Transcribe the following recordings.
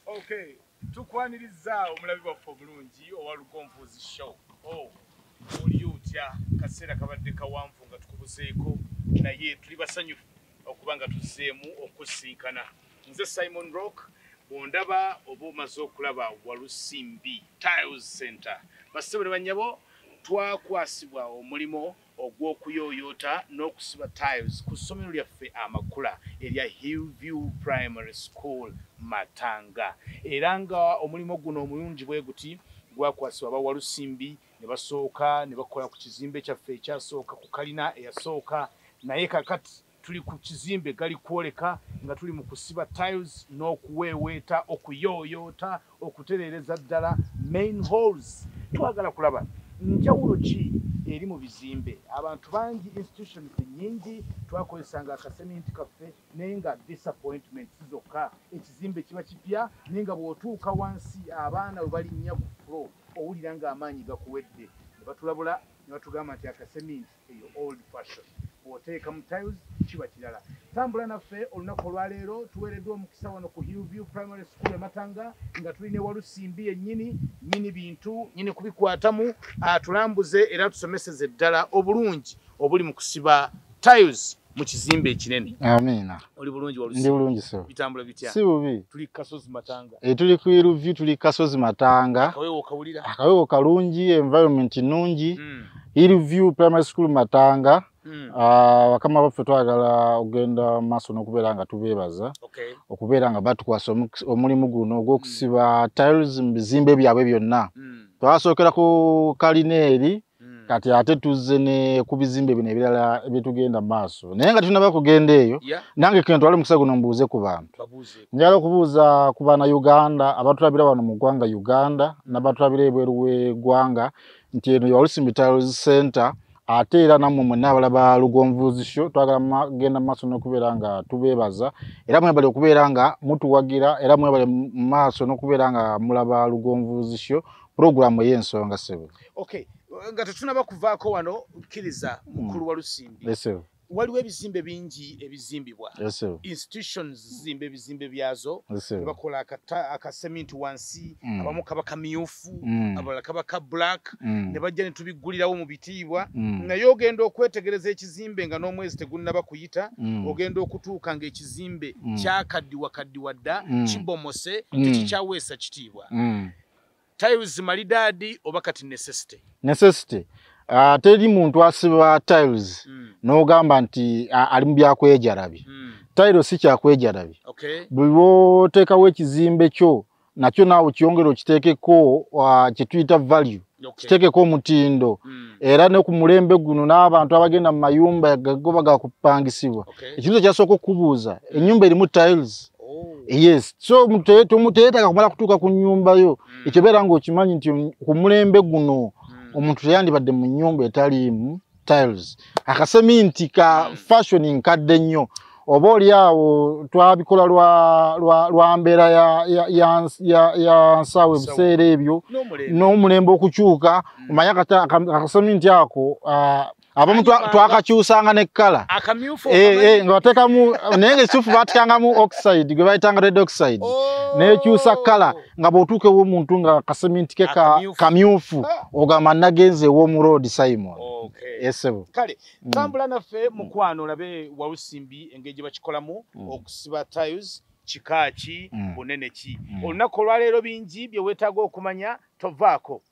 okay tukwanirizaawo omulabi waffe obulungi owa lugonvuzi show o oh, oli otya kaseera kabadde kawanvu nga tukubuzeeko naye tuli basanyufu okuba nga tuzzeemu okusinkana nze simon rock bwondaba oba omaze okulaba walusimbi tiles center basebo ne bannyabo twakwasibwa omulimu ogw'okuyooyoota n'okusiba tiles ku ssomero lyaffe amakula erya Hillview Primary School Matanga era nga omulimu guno omulungi bwe guti gwakwasibwa ba Walusimbi ne basooka ne bakola ku kizimbe kyaffe ekyasooka ku kalina eyasooka naye kakati Tuli ku kizimbe gali kwoleka nga tuli mu kusiba tiles n'okuweeweeta, okuyooyoota, okutereereza ddala main halls. Twagala kulaba njawulo ki eri mu bizimbe. Abantu bangi, institutions nnyingi twakozesanga akaseminti kaffe naye nga disappointments zokka. Ekizimbe kiba kipya naye nga bw'otuuka wansi abaana we balinnya ku floor owulira ng'amaanyi gakuwedde. Ne batulabula ne batugamba nti akaseminti eyo old fashion bw'oteekamu tiles kiba kirala tambula naffe olunaku olwaleero tuweereddwa omukisa wano ku hillview primary school ematanga nga tuli ne walusimbi yennyini nyini bintu nyini kubikwatamu atulambuze era tusomeseze ddala obulungi obuli mu kusiba tiles mu kizimbe ekinene amiina oli bulungi walusi ndi bulungi so bitambula bitya si bubi tuli kasozi matanga e tuli ku iluvi tuli kasozi matanga akawewo kawulira akawewo kalungi environment nungi mm. iluvi primary school matanga Mm. Uh, wakama baffe twagala ogenda maaso n'okubeera nga tubeebaza okay. okubeera nga batukwasa omulimu guno ogw'okusiba mm. tiles mu bizimbe byabwe byonna mm. twasookera ku kalina eri Hmm. kati ate tuzze ne ku bizimbe bino ebirala ebyetugenda mu maaso naye nga tunaba kugenda eyo nange kentwale mukisa guno mbuuze ku bantu njala okubuuza ku bana uganda abatulabira wano mu ggwanga uganda nabatulabira ebweru wegwanga nti eno yaolusi mitals center ate era nammwe mwenna abala ba lugonvuuzisho twagala genda mu maaso n'okubeera nga tubeebaza era mwebale okubeera nga mutuwagira era mwebale mu maaso n'okubeera nga mulaba lugonvuuzisho pulogulaamu ey'ensonga ssebo okay nga tetunaba kuvaako wano kkiriza hmm. mukulu wa lusimbi waliwo ebizimbe bingi ebizimbibwa institutions zizimba ebizimbe byazo bakola akaseminti wansi hmm. abamu kaba kamyufu hmm. abalala kaba ka black ne bajja ne tubiggulirawo mu bitiibwa naye ogenda okwetegereza ekizimbe nga n'omwezi tegunnaba kuyita ogenda okutuuka ng'ekizimbe kyakaddiwa kaddiwa dda kibomose tekikyaweesa kitiibwa tiles malidadi oba kati necessity necessity uh, teri muntu asiba tiles mm. nogamba nti uh, ali mubyakwejarabi mm. tile si kyakwejarabi okay. buliwotekawo ekizimbe kyo nakyo naawe kyongere okitekeko uh, kyetuyita value okay. kitekeko omutindo mm. era ne ku mulembe guno n'abantu abagenda mu mayumba gagoba gakupangisibwa okay. ekintu kyasooka okubuuza enyumba erimu tiles Oh. yes so temuteyetaka kumala kutuuka ku nyumba yo mm. ekyo beera nga okimanyi nti ku mulembe guno mm. omuntu teyandibadde mu nyumba etaliimu tiles akaseminti ka mm. fashion nkadde nnyo oba oli awo twabikola lwa mbeera ya nsaawa ebiseera ebyo n'omulembe okukyuka omanye akaseminti ako ah, abamu twakakyusanga ne kkala eh, eh, nga batekamu naye nga ekituufu batikangamu oxide gwe bayitanga red oxide oh. nekyusa kkala nga bwotuuka ewomuntu nga kaseminti ke kamyufu ah. ogamba nagenza ewomu road simon esebo eh, kale mm. tambula naffe mukwano olabe wawusimbi engeri gye bakikolamu mm. okusiba tiles kika ki mm. bunene ki mm. olunaku olwaleero bingi bye weetaaga okumanya tovaako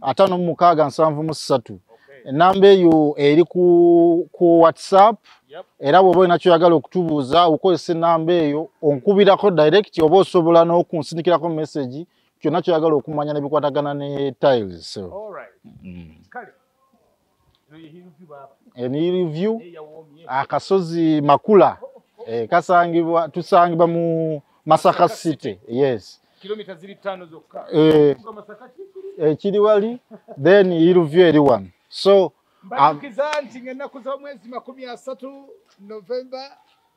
ataano mu mukaaga nsanvu mu ssatu enamba eyo eri ku, ku whatsapp yep. era bwoba olina kyoyagala okutubuuza okozesa enamba eyo onkubirako direct oba osobola n'okunsindikirako message kyonna kyoyagala okumanya nebikwatagana ne tiles so. All right. mm. Hill View akasozi Makula eh, kasangibwa tusangibwa mu Masaka City yes kilomita ziri tano zokka eh, eh, kiri wali then Hill View eri wano so mbakiza nti ng'ennaku z'omwezi makumi asatu November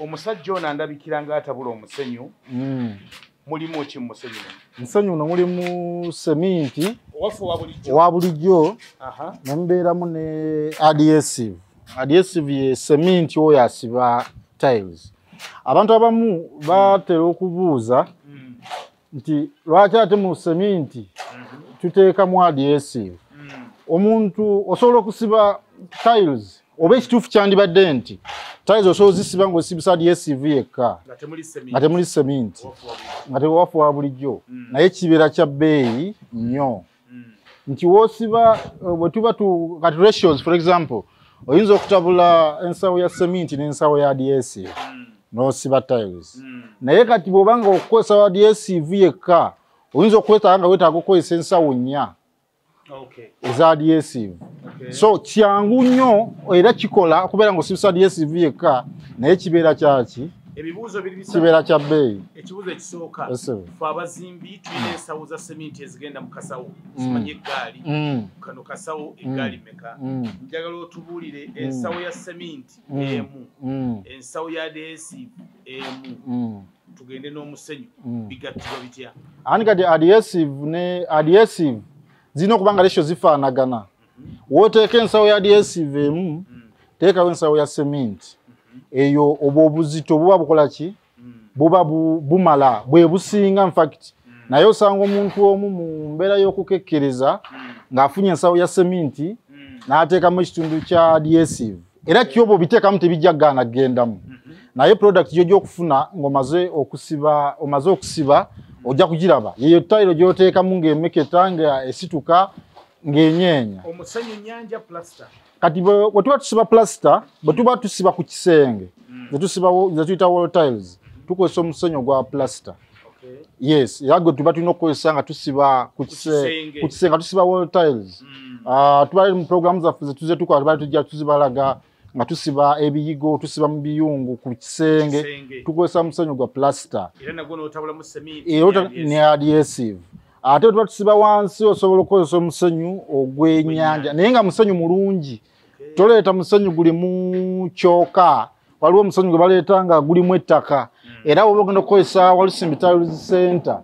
omusajja ono andabikira nga atabula omusenyu hmm. mulimu ki mumusenyu musenyu no mulimu seminti owa bulijjo nemubeeramu ne adhesive adhesive ye seminti oyo asiba tiles abantu abamu batera okubuuza mm. nti lwaki ate mu seminti tuteekamu adhesive omuntu osobola okusiba tiles oba ekituufu kyandibadde nti tiles osobola ozisiba ngaosibisa adhesive yekka nga temuli seminti nga tewafuwa bulijjo mm. naye kibeera kya bbeeyi nnyo nti wosiba eh, wetuba tu kati ratios for example oyinza okutabula ensawo ya seminti nensawo ya adhesive mm. nosiba tiles mm. naye kati bwobanga okukozesa wa adhesive yekka oyinza okwetaaga nga wetaaga okukozesa ensawo nnya okay. eza adhesive okay. so kyangu nnyo era kikola okubeera nga osibisa adhesive yekka naye kibeera kyaki ebibuuzo biri bisatu kibeera kya bbeeyi ekibuuzo ekisooka fe abazimbi tulina ensawo za seminti ezigenda mu kasawo mm. zimanyi eggaali mm. kano kasawo mm. eggaali meka njagala otubuulire ensawo ya seminti emu ensawo ya deesi emu tugende n'omusenyu bigattibwa bitya ani kati adhesive ne adhesive zirina okuba nga lesho zifaanagana woteeka ensawo ya dsv emu mm. teekawo ensawo ya cement mm-hmm. eyo obwo obuzito buba bukola ki mm. buba bumala bwe businga infact mm. naye osanga omuntu omu mu mbeera y'okukekkereza ng'afunye ensawo ya cement n'ateekamu ekitundu kya dsv era kyoba obiteekamu tebijja gaana kugendamu mm-hmm. naye product gyojja okufuna ng'omaze okusiba omaze okusiba ojja kugiraba yeyo tayiro gy'oteekamu ng'emeketa nga esituka ng'enyeenya omusenyu nyanja plaster kati bwe tuba tusiba plaster bwe tuba tusiba ku kisenge mm. zetuyita wall tiles tukozesa omusenyu ogwa plaster yes era gwe tuba tulina okukozesa nga tusiba ku kisenge nga tusiba wall tiles mm. ah, tuba mu programu zaffe zetuze tukola tubali tujja tuzibalaga mm. nga tusiba ebiyigo tusiba mu biyungu ku kisenge tukozesa musenyu gwa plasita ne adhesive ate tuba tusiba wansi osobola okukozesa omusenyu ogwenyanja naye nga musenyu mulungi toleeta musenyu gulimu kyoka waliwo omusenyu gwe baleeta nga gulimu ettaka hmm. era woba ogenda okukozesa walusimbi tiles center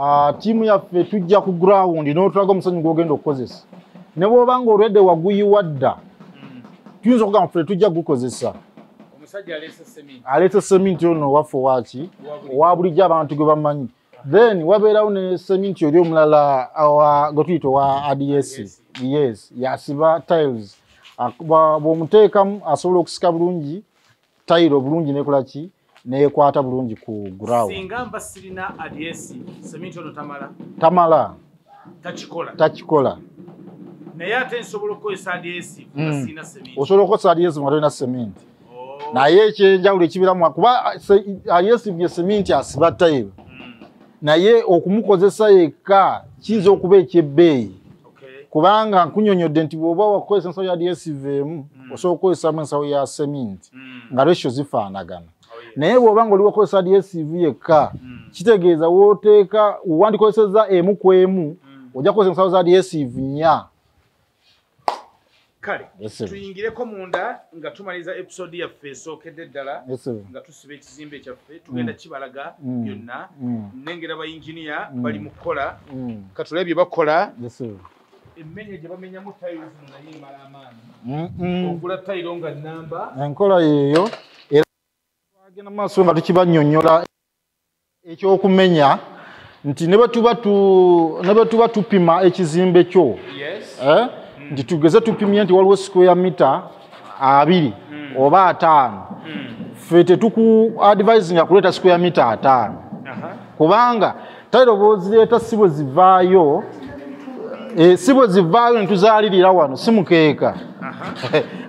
Ah, tiimu yaffe tujja ku ground n'otulaga omusanyu gwogenda okukozesa ne bwoba nga olwedde waguyiwa dda tuyinza okugamba ffe tujja kugukozesa aleeta seminti ono waffe waki owa bulijjo abantu gwe bamanyi then wabeerawo ne seminti oli omulala gwe tuyita owa ads yes yasiba tiles bw'omuteekamu asobola okusika bulungi tayiro bulungi nekola ki nekwata bulungi ku ground singa mba sirina adyesi seminti ono tamala tamala takikola takikola naye ate nsobola okukozesa adyesi nga hmm. sirina seminti osobola okukozesa adyesi nga tolina seminti oh. naye ekyenjawulo ekibiramu kuba adyesi bye seminti asiba tayiro hmm. naye okumukozesa yekka kiyinza okuba ekyebbeeyi kubanga nkunyonyodde nti bwoba wakukozesa ensawo ya dsv emu mm. osobola okukozesamu ensawo ya seminti mm. nga ratio zifaanagana oh, naye bwoba nga oli wakukozesa dsv yekka mm. kitegeeza woteeka wandikozeseza emu ku emu ojja kukozesa ensawo za dsv nya kale tuyingireko munda nga tumaliza episode yaffe esookedde ddala nga tusiba ekizimbe kyaffe tugenda mm. kibalaga mm. byonna mm. nengera bayinginiya bali mu kukola katulabe bye bakola emmenya gye bamenyamu tayiro zino naye emala amaanyi ogula tayiro nga namba enkola yeeyo era twagenda mu maaso nga tukibanyonyola ekyokumenya nti ne bwe tuba tupima ekizimbe kyo eh, nti tugeze tupimye nti waliwo square mita abiri hmm. oba ataano hmm. fe tetuku advisinga kuleeta square mita ataano kubanga tairo bwozireeta si bwe zivaayo eh, si bwe zivaayo netuzaalirira wano si mukeeka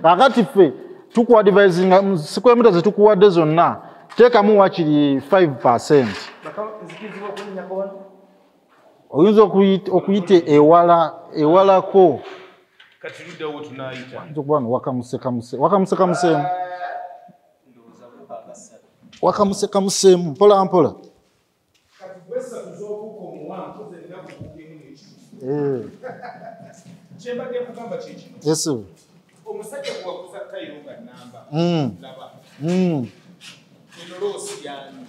kakati ffe tukuadivisinga square mita zetukuwadde zonna teekamu wakiri 5 percent oyinza okuyita ewala ewalako okuba no wakamusekamuse wakamusekamuseemu wakamusekamuseemu mpola mpola kyembadde kugamba kyekino yesu omusajja gwewakuza kayiro nga namba hmm. laba hmm. eno loosi yani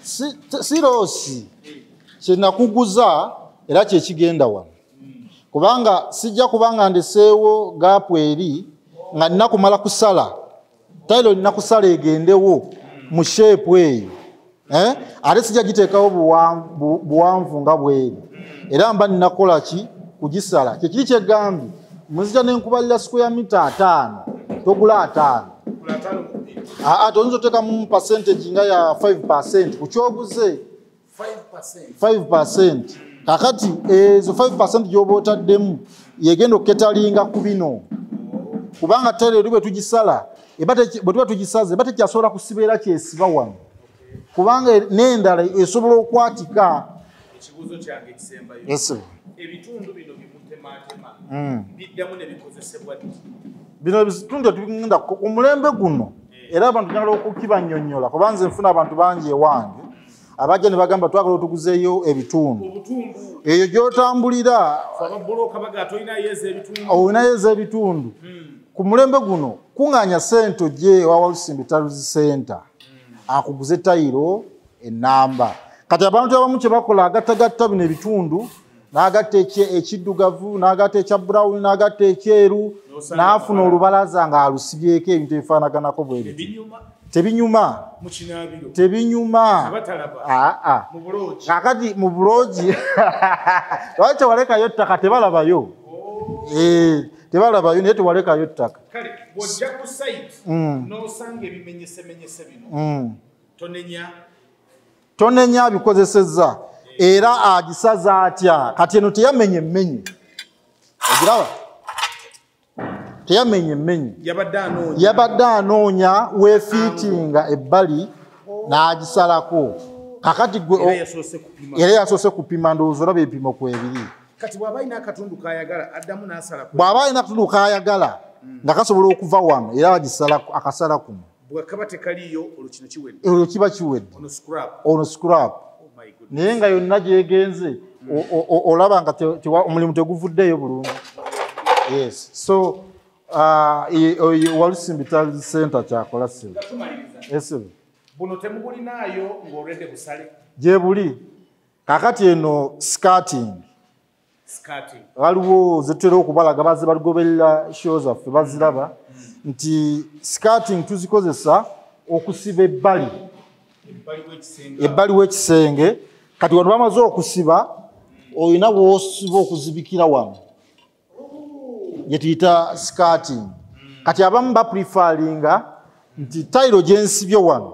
si loosi eh. kyenakuguza era kyekigenda wano hmm. kubanga sijja kubanga ndeseewo gaapu eri nga nina kumala kusala tayiro olina kusala egendewo mu sheepu eyo eh? ate sijja giteekawo buwanvu nga bweri era mba ninakola ki kugisala kyekiri kyegambye muzija nenkubalira square mita ataano togula ataano aa ah, ah, toyinza oteekamu percentage nga ya 5 percent kukyoguze 5% kakati ezo 5% gyoba otaddemu yegenda okuketalinga ku bino kubanga tereeri bwe tugisala bwe tuba tugisaze eba tekyasobola kusibeera kyesiba wano kubanga n'endala esobola okwatika ekibuuzo kyange ekisembayo ebitundu bino bimutematema hmm. biddamu nebikozesebwa bino ebitundu etugenda ku mulembe guno eh. era abantu nyala okukibanyonyola kuba nze nfuna abantu bangi ewange abajja ne bagamba twagala otuguzeeyo ebitundu eyo gy'otambulira olinayo ez'ebitundu hmm. ku mulembe guno kuŋŋaanya sente ogye ewa walusimbi taluzi senta hmm. akuguze tayiro enamba kati abantu abamu kye bakola agattagatta bino ebitundu n'agatta ekiddugavu n'agatta ekya brown n'agatta ekyeru n'afuna olubalaza ng'alusibyeko ebintu ebifaanaganako bwe biti tebinyuma tebinyuma aa kakati mu buloogi lwaki tewalekayo ttaka tebalabayo oh. eh, tebalabayo naye tewalekayo ttaka tonenya abikozesezza era agisaza atya kati eno teyamenya emmenye ogiraba teyamenya emmenye yabadde anoonya wefiitinga ebbali n'agisalako kakati gwe era yasoose kupima ndowooza olaba ebipimo ku ebiri bw'aba alina akatundu k'ayagala hmm. nga kasobola okuva wano era agisala akasala kuno bwekaba tekaliyo olwo kino kiwedde olwo kiba kiwedde ono scrap oh naye nga yonna gyegenze olaba nga omulimu teguvuddeeyo bulungi yes so uh, walusimbi tali center kyakola simu esimu buno temubulinaayo ngaolwedde busale gyebuli kakati eno scating waliwo zetutera okubalaga baze baligoberera show zaffe baziraba nti scating tuzikozesa okusiba ebbali ebbali w'ekisenge kati wano bamaze okusiba olina wosiba okuzibikira wano gyetuyita scating kati abamu baprefaringa nti tayiro gyensibye wano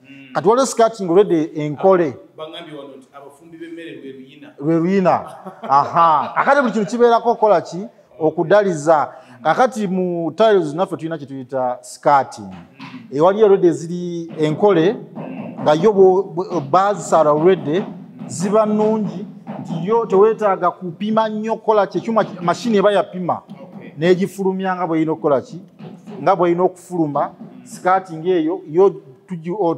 mm. kati waliwo skirting already enkole lwe luyina aha kakati buli kintu kibeerako okukola ki okudaliza kakati mu tiles naffe tulina kyetuyita skirting mm. ewaliyo already eziri enkole nga yo bazisala already ziba nungi nti yo tewetaaga kupima nnyo okukola kyekyuma mashini eba yapima negifulumya nga bweyina okukola ki nga bwolina okufuluma sikaati ngaeyo yo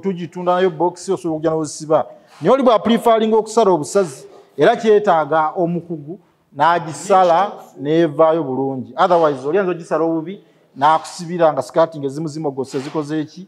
tugitunda nayo bokisi osobola okuja nozisiba naye oli bwaprifalinga okusala obusazi era kyetaaga omukugu n'agisala n'evaayo bulungi otherwise olyanza ogisala obubi n'akusibira nga sikaati nga ezimuzimogose zikoze eki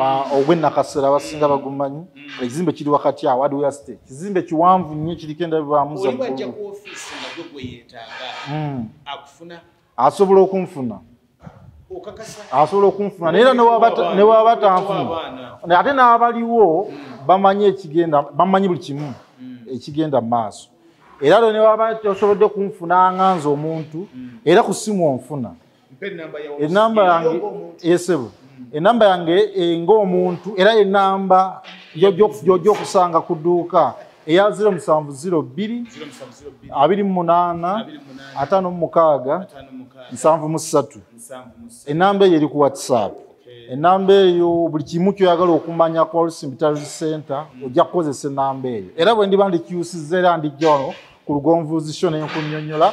Ah, ogwenakasera abasinga mm. bagumanyi mm. ekizimbe kiri wakati awo adwea state kizimbe kiwanvu nnyo kiriko endabibwamuza mm. asobola okunfuna asobola okunfuna naye era newaba tanfuna ate n'abaliwo bamanyi ekigenda bamanyi buli kimu ekigenda mu maaso era lwo newaba tosobodde kunfuna nga nze omuntu era ku simu onfuna enamba yange esebo enamba yange eh, ngaomuntu era enamba gyojja okusanga ku dduuka eya 07028557 enamba eyo eri ku whatsapp enamba eyo buli kimu kyoyagala okumanya ku alsimbitality center mm. ojja kukozesa enamba eyo era bwe ndiba ndikyusiza era ndijja wano ku lugonvuuzisyo nenkunyonyola